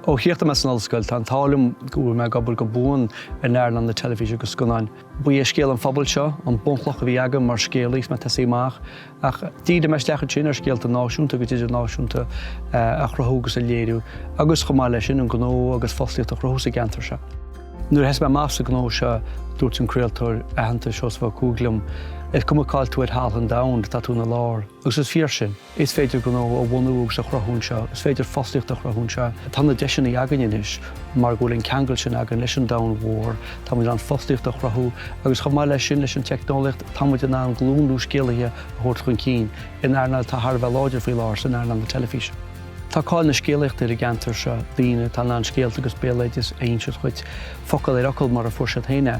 Ó chríochnaigh mé san ollscoil, tá an t-ádh liom go bhfuil mé ag obair go buan in earnáil na teilifíse agus scannáin. Ba é scéal an phobail seo an bunchloch a bhí agam mar scéalaí is mé ag tosaí amach, ach dhírigh mé isteach ansin ar scéalta náisiúnta agus idirnáisiúnta a chruthú agus a léiriú, agus chomh maith leis sin, an gnó agus fostaíocht a chruthú sa gceantar seo. Nuair a thosaigh mé amach sa ghnó seo, dúirt an craoltóir aitheanta Seosamh Ó Cuaig liom, Is cuma cáil tú ar thalamh an domhain, tá tú ina lár. Agus is fíor sin. Is féidir gnó a bhunú agus a chruthú anseo, is féidir fostaíocht a chruthú anseo. Tá na deiseanna againn anois mar go bhfuil an ceangal sin againn leis an domhan mhór, tá muid in ann fostaíocht a chruthú agus chomh maith leis sin, leis an teicneolaíocht, tá muid in ann glúin nua scéalaithe a thabhairt chun cinn in earnáil atá thar a bheith láidir faoi láthair, san earnáil na teilifíse. Tá cáil na scéalaíochta ar an gceantar seo, daoine atá in ann scéalta agus béaloideas a inseacht dhuit, focal ar fhocal mar a fuair siad féin é.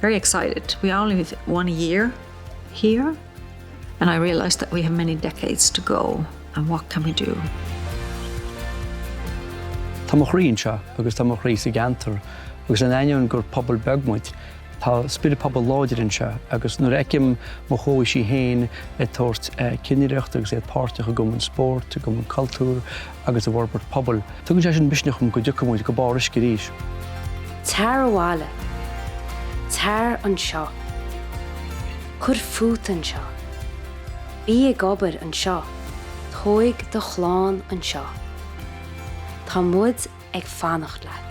very excited, we only have one year here and I realise that we have many decades to go and what can we do? Tá mo chroí anseo agus tá mo chroí sa gceantar agus in ainneoin gur pobal beag muid, tá spiorad pobail láidir anseo agus nuair a fheicim mo chomhaoisigh féin ag tabhairt cinnireacht agus iad páirteach i gCumann Spóirt, i gCumann Cultúir, agus i bhforbairt pobail. Tugann sé sin misneach dom go dtiocfaidh muid go barr uisce arís. Tar abhaile. Tar anseo. Cuir fút anseo. Bí ag obair anseo. Tóig do chlann anseo. Tá muid ag fanacht leat.